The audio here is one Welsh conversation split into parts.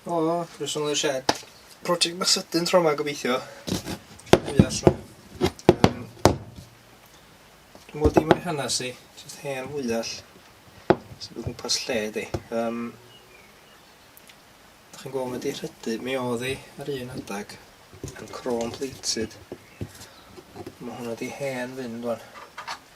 O. Rwy'n sôn o'r shed. Project bach sydyn tro yma gobeithio. Dwi allan. Um, dwi'n mwyn dim o'i hanes i, jyst hen fwyall sy'n bod yn pas lle di. Um, Dych chi'n gweld mae di rhydu, mi oedd hi ar un adag yn chrôn plated. Mae hwnna di hen fynd o'n.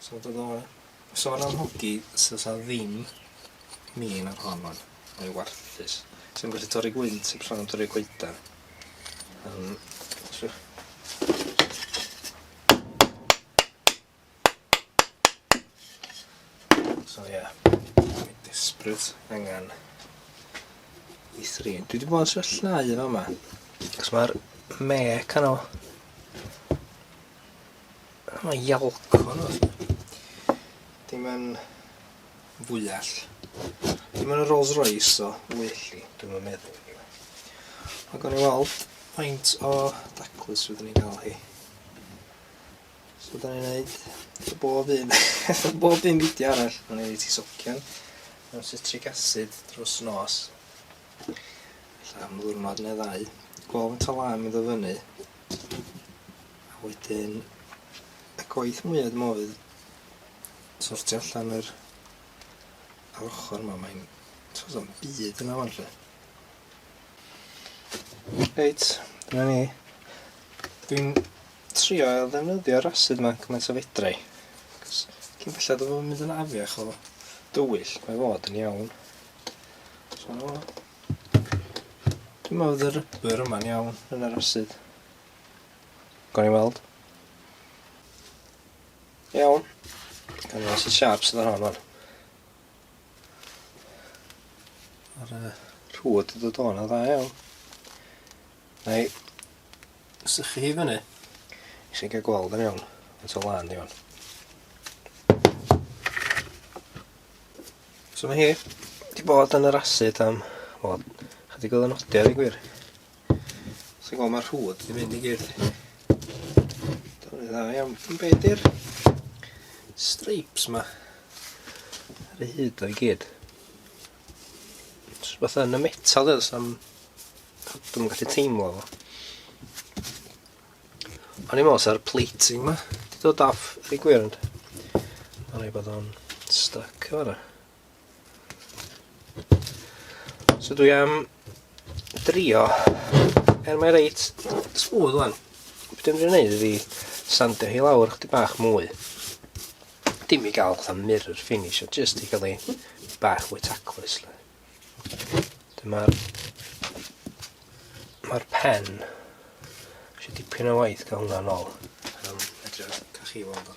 So dod o sôn am hogi so sa ddim min ar hon wan. Mae o warthus. Sa'n gallu torri gwynt heb sôn am torri coedan. Um, so. So ie. Yeah. Dwi'n desbryd angen i thrin. Dwi wedi bod yn sefyllnau yma. Cos mae'r mec yno Mae ialc hwn. Dim yn fwyell. Dim yn y Rolls Royce o welli, dwi'n yn meddwl. Ac o'n i weld faint o daclus fyddwn ni'n cael hi. So da ni'n neud y bob un, y bob un beidio arall. O'n i'n ei ti socian mewn citric acid drws nos. Alla am ddwrnod neu ddau. Gweld faint o lam i ddod fyny. A wedyn y gwaith mwya dwi me'wl fydd sortio allan yr yr ochor 'ma mae'n t'o' do'm byd yna ŵan 'lly. Reit dyna ni. Dwi'n trio ail ddefnyddio'r acid 'ma cymaint a fedrai. Cos cyn bellad o fo mynd yn afiach o dywyll mae fod yn iawn. So dwi me'wl fydd y rubber yma'n iawn yn yr acid. Gawn ni weld. Iawn. Gawn ni weld sy'n siarp sydd ar hon o'n. Ar y rhwyd y dod o'n dda iawn. Neu, sychu hi fyny. I chi'n cael gweld yn iawn. Yn to lan iawn. So mae hi wedi bod yn yr asid am, wel, chydig oedd yn odio, ddeg gwir. Ti'n gweld mae'r rhwyd yn mynd i gyd. Dwi'n dda iawn. Yn be di'r streipes ma? Ar ei hyd o'i gyd. Os beth yn y metal dweud, am... Dwi'n gallu teimlo fo. O'n i'n meddwl sa'r plating ma. Di dod off, rhi gwir ond. O'n i'n bod o'n stuck o fanna. So dwi am drio, er mae reit smooth wan, beth dwi'n mynd i wneud ydi sandio hi lawr chdi bach mwy. Dim i gael fatha mirror finish, o just i gael ei bach mwy taclus. Dyma'r mae'r pen eisiau dipyn o waith gael hwnna'n ôl. Um, edrych, cach chi weld o.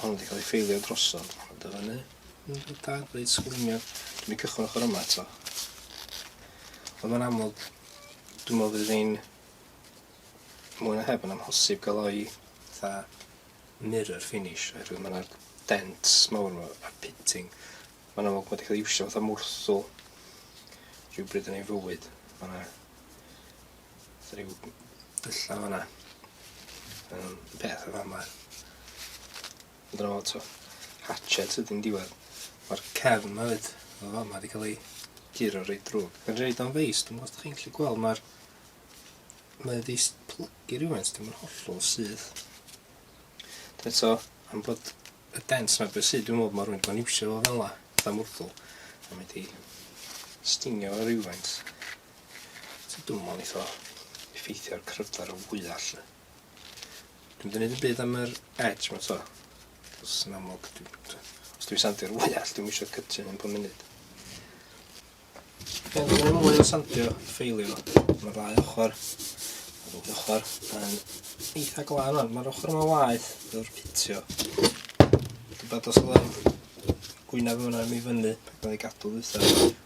Hwn wedi cael ei ffeilio drosodd. Ond dyna ni. Mae'n da, reit sgwrmiad. Dwi'n mynd cychwyn ochr yma eto. Ond mae'n amlwg, dwi'n meddwl fydd ein mwy na heb yn amhosib gael o'i dda mirror finish, oherwydd mae yna dents mawr yma a'r pitting. Mae'n amlwg bod wedi cael ei iwsio fatha mwrthwl rhywbryd yn ei fywyd. Mae yna Sa ryw dylla fanna. Yym peth o fama. Ond dyna fo t'o' hatchet ydi'n diwedd. Ma'r cefn 'ma 'fyd o fama 'di ca'l ei guro reit drwg. Ma'n roid o'n feis dwi'm os 'dach chi'n gallu gweld ma'r mae o 'di s- plygu rywfaint dwi'm yn hollol syth. Ond eto am bod y dent 'na be' sy dwi'n me'wl ma' rywun 'di bo' yn iwsio fo fel 'a, fatha mwrddwl a mae 'di stingio fo rywfaint. Ti dwmbo neith o effeithio ar cryfder o fwyall. Dwi'm di neud yn byd am yr edge ma to. Os yn amlwg, os dwi'n sandio'r fwyall, dwi'm eisiau cytio yn pum munud. Ie, dwi'n gwneud mwy o sandio ffeilio. Mae'r ddau ochr, mae'r ddwy ochr yn eitha glan o'n. Mae'r ochr yma waith yw'r cytio. Dwi'n bad os ydym gwynaf yma mi fyny, ac mae'n ei gadw ddwytha.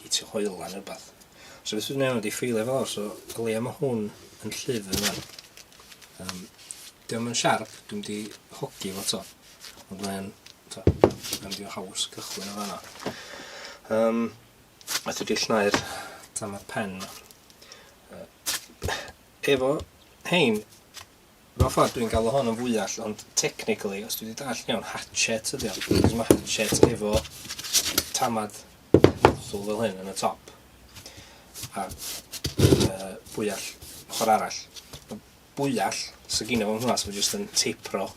hi tu hwyl na rwbath. So beth dwi'n neud i ffeilio fo lawr, so o leia ma' hwn yn llif yna. Um, Diolch yn siarp, dwi'n di hogi fo to. Ond mae'n, to, mae'n di o haws cychwyn o fanna. Um, a dwi di llnau'r tam ar pen. Uh, efo hein, Mewn ffordd dwi'n galw hwn yn fwyall ond technically os dwi 'di dallt yn iawn hatchet ydi o achos ma' hatchet efo tamad nozzle fel hyn yn y top a yy bwyall ochor arall. Ma' bwyall sy gynno fo hwnna so jyst yn teipro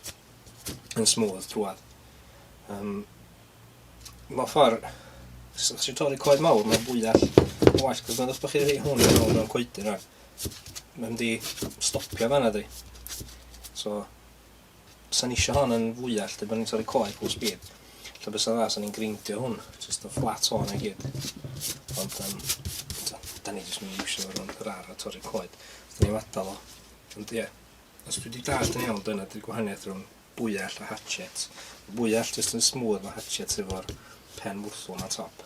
yn smooth drwadd. Yym mewn ffordd os ti'n torri coed mawr ma' bwyall yn well achos meddwch bod chi wedi rhoi hwn yn ôl mewn coedyn rwan Mae'n mynd i stopio fanna di. So, sa'n eisiau hon yn fwyall, dy bod ni'n torri coed full speed. Lle bys dda, sa'n ni'n greindio hwn, jyst yn fflat hwn i gyd. Ond, um, da ni jyst mynd i eisiau fod yn yr ar a torri coed. Da ni'n adal o. Ond, ie. Yeah. Os dwi wedi dall yn iawn, dyna dy'r gwahaniaeth rhwng bwyall a hatchet. Bwyall jyst yn smooth, mae hatchet efo'r pen wrthol na top.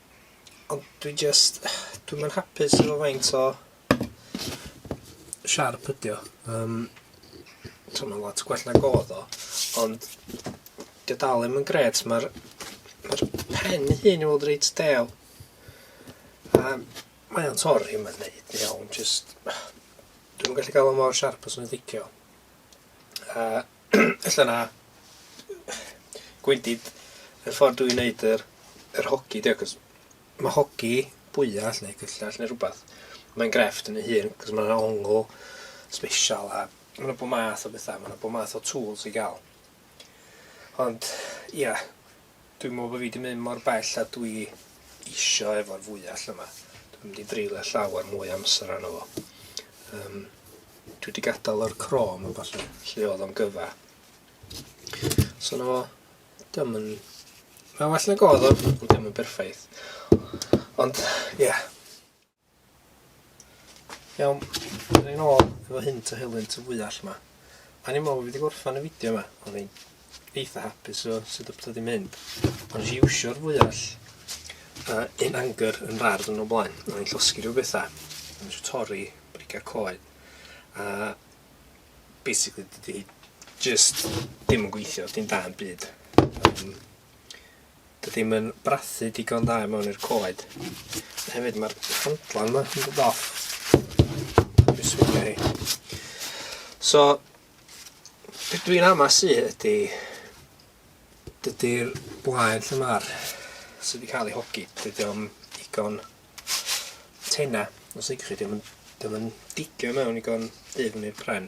Ond dwi jyst dwi'm yn hapus efo faint o siarp ydi o. Yym so ma'n lot gwell nag o'dd o ond 'di o dal ddim yn grêt ma'r ma'r pen ei hun i weld reit del. A mae o'n torri ma'n neud yn iawn jyst dwi'm yn gallu ga'l o mor siarp a swn i'n licio. A Ella na. Gwendid, y ffordd dwi'n neud yr, yr hogi, dio, cos mae hogi bwyall neu cyllell neu rhywbeth, mae'n grefft yn ei hun, cos mae'n ongl special a mae yna bod math o bethau, mae yna bod math o tools i gael. Ond, ia, Dwi'n meddwl bod fi 'di mynd mor bell a dwi isio efo'r fwyell yma. Dwi'n mynd i dreulio llawer mwy o amser arno fo. Um, dwi wedi gadael o'r crom a falle lle oedd o'n gyfa. So na fo, dim yn... Mae'n well na godd o, ond dim yn berffaith. Ond, ie. Yeah. Iawn, dyna ni'n ôl efo hyn to helynt y fwyall yma. A ni'n meddwl fi wedi gorffan y fideo yma, o'n i'n eitha hapus o sut y pethau wedi mynd. Ond nes i iwsio'r fwyall uh, in anger yn rard yn o blaen, o'n i'n llosgi rhyw bethau. O'n i'n torri briga coed. A basically dydy hi just dim yn gweithio, dim da yn byd. Um, Dydi hi'm yn brathu digon da i mewn i'r coed. A hefyd mae'r handlan yma yn dod off. Dwi'n swilio hi. So, beth dwi'n ama sy ydy, dydy'r blaen lle mae'r sydd wedi cael ei hogi, dydy o'n digon tena, os ydych chi, dydy o'n digio mewn digon dydd yn i'r pren.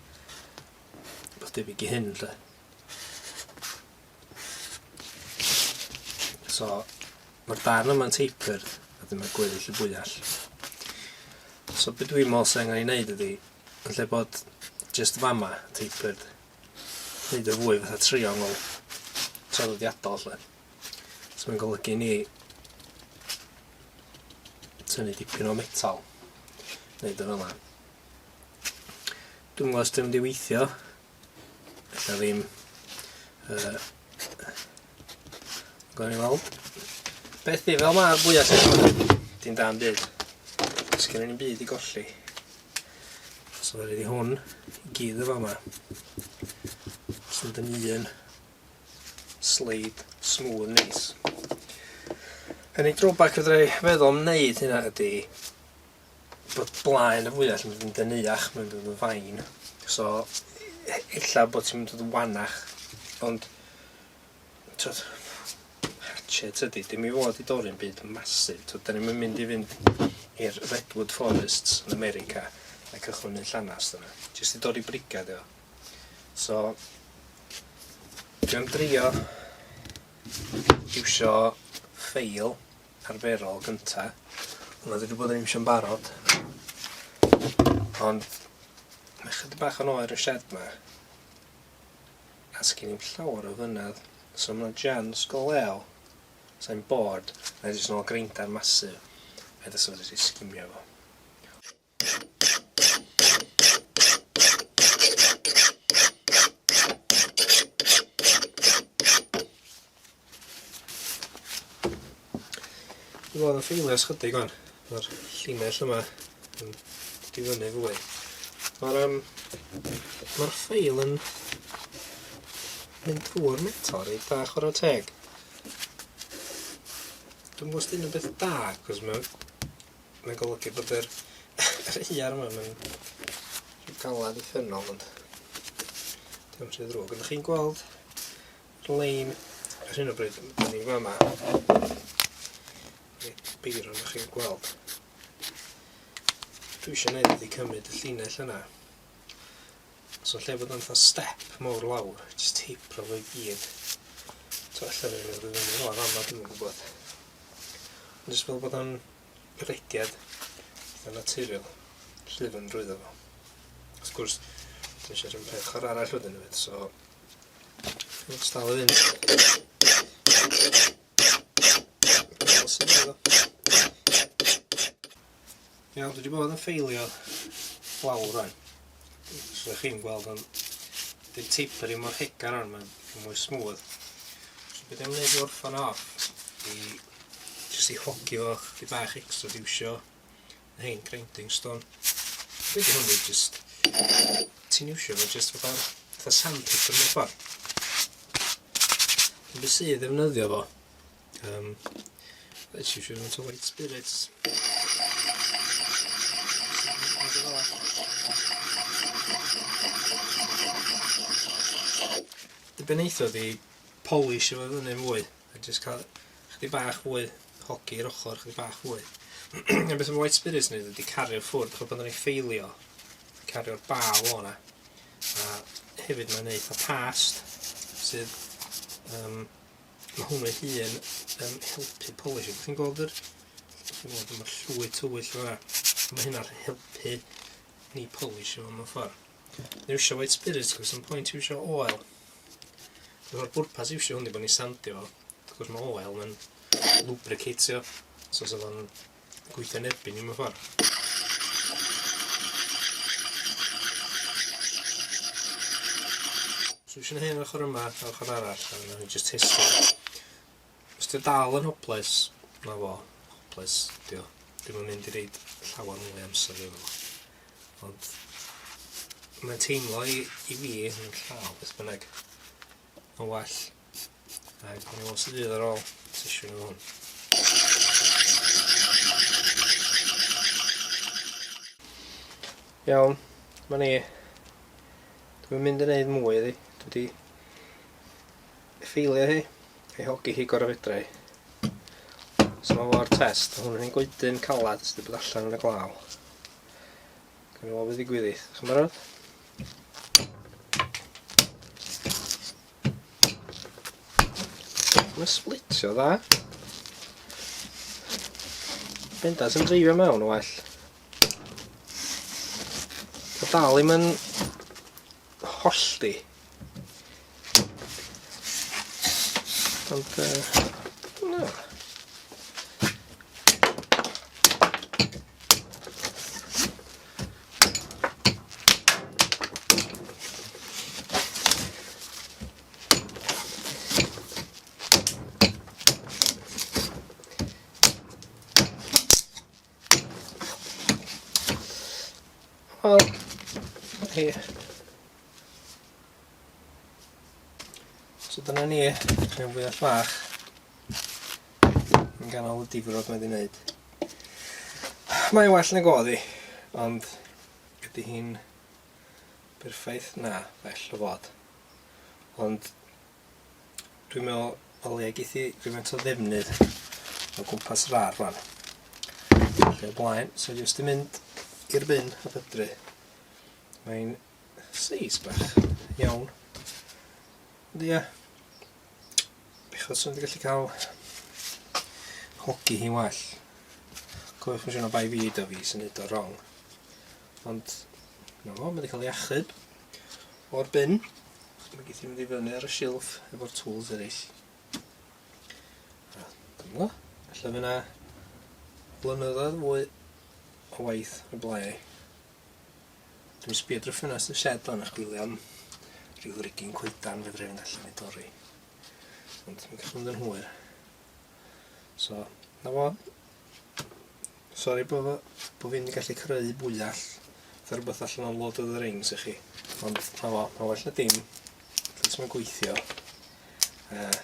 Rhywbeth debyg i hyn, lle. So, mae'r darn yma'n tapered, a dyma gweddill y bwyall. So, beth dwi'n meddwl sy'n angen ei wneud ydy, yn lle bod just fama tapered, wneud y fwy fatha triongl traddodiadol, lle. So, mae'n golygu ni tynnu dipyn o metal, wneud y fel yna. Dwi'm yn gwbo os 'di o'n mynd i weithio. Ella ddim. Yy. Gawn ni weld. Beth yw fel ma'r fwya sy gynno Dim dan byd. Os gynno ni'n byd i golli. Os yma rydw i hwn i gyd o fa ma. Os yma dyn un sleid smooth yn neis. Yn ei drawbac fedra i feddwl am wneud hynna ydy bod blaen y fwyell yn mynd yn deneuach, mae'n mynd yn fain. So, e- ella bod ti'n mynd yn wanach, ond... Twyd, hatchet ydy, dim i fod i dorri'n byd masif. Twyd, da ni'n mynd i fynd i'r Redwood Forests yn America a cychwyn yn llanast yna. Jyst i dorri brigad yw. So, dwi'n drio iwsio ffeil arferol gynta. Hwnna dwi wedi bod yn iwsio'n barod. Ond mae chydig bach yn oer y shed ma. A sgyn i'n llawer o fynedd. So mae'n jans go lew. Sa'n bod, na jyst nôl greinda'r masu. Fe ddys wedi sgimio fo. Dwi'n gweld yn ffeilio sgyddig o'n, mae'r llinell yma yn difynnu fwy. Mae'r um, ma ffeil yn mynd drwy'r metal reit da, chwarae teg. Dwi'n gwybod os dyn nhw'n beth da, cos mae Mae'n golygu bod yr yr iar yma yn rhy galad i ffynol ond dim rhy ddrwg. Ydych chi'n gweld lein ar hyn o bryd yn ni fama? Reit beir ond chi'n gweld. Dwi eisiau gwneud ydy cymryd y llinell yna. So lle bod o'n step mawr lawr, just teipro fo i gyd. To allan yn mynd rwy'n mynd o'r fama, dwi'n gwybod. Ond jyst fel bod o'n breged yn naturiol llyfn drwyddo fo. Wrth gwrs, dwi eisiau rhywun peth chwarae arall wedyn hefyd, so... Let's dal o fynd. Iawn, dwi wedi bod yn ffeilio lawr rhaid. os ydych chi'n gweld o'n di tapering mor hegar ond mae'n dipyn mwy smooth. So beth dwi'n gwneud i orffan off i jyst i hogi fo chdi bach extra diwsio na hyn grinding stone. Dwi'n hwn i jyst ti'n iwsio fo jyst fatha fatha sandpaper mewn ffordd. Dwi'n sydd ddefnyddio fo Um, let's use it to white spirits. Dibeneitho di polish efo fyny mwy, a jyst cael chdi bach fwy hogi i'r ochr, chdi bach fwy. a beth am white spirits ni, wedi cario ffwrdd, chod pan o'n i'n ffeilio, cario'r bal o'na. A hefyd mae'n eitha past, sydd um, Mae hwn ei hun yn helpu polish. Ydych chi'n gweld yr... Ydych chi'n gweld mae'r llwy tywyll yma. Mae hynna'n helpu ni polish yma mewn ffordd. Ni eisiau white spirits, cos yn pwynt yw eisiau oel. Mae'r bwrpas eisiau hwn i bod ni'n sandio. Cos mae oel yn lubricatio. So, so fo'n gweithio'n erbyn ni mewn ffordd. So eisiau gwneud hyn o'r ochr yma, o'r ochr arall, a wnawn ni just testio. Os ti'n dal yn hoples, na fo, hoples, di o. Dwi'n mynd mynd i reid llawer mwy amser i fo. Ond mae'n teimlo i, i fi yn llaw, beth bynnag. Mae'n well Reit, ni os ydydd ar ôl sesiwn o hwn. Iawn, ma ni. Dwi'n mynd i wneud mwy iddi. Dwi wedi ffeilio hi, ei hogi hi gorau fedra i. So mae fo'r test, hwn yn ei goedyn calad sydd wedi bod allan yn y glaw. Gwneud o fe ddigwyddith. Chi'n barod? Mae'n splitio dda. Bendant yn dreifio mewn o well. Mae dal i'm yn hollti. Ond, uh, no. Wel, hi. So dyna ni, rhan fwyaf llach. Yn ganol y difrod mae wedi wneud. Mae'n well nag oedd hi, ond ydy hi'n berffaith? Na, bell o fod. Ond dwi'n meddwl o leia geith hi rhywfaint o ddefnydd o gwmpas yr ar fan. Ac o'r blaen, so jyst yn mynd i'r bin a bydru. Mae'n Seis bach iawn. Ond ia, bechod sy'n wedi gallu cael hogi hi'n well. Cofiwch yn siŵr o bai fi da fi sy'n neud o wrong. Ond, na fo, mae wedi cael ei achub o'r bin. Mae geith i fynd i fyny ar y silff efo'r tools eraill. Dyma, allan fyna blynyddoedd fwy o waith y blae. Dwi'n sbio drwy ffenast y shed fan a chwilio am rhyw rigin coedan fedra i fynd allan i dorri. Ond mae'n gallu mynd yn hwyr. So, na fo. Sori bod fo, bod fi'n gallu creu bwyall. Fe rhywbeth allan o'n Lord of the Rings i chi. Ond na fo, mae well na dim. Dwi'n sy'n gweithio. Uh,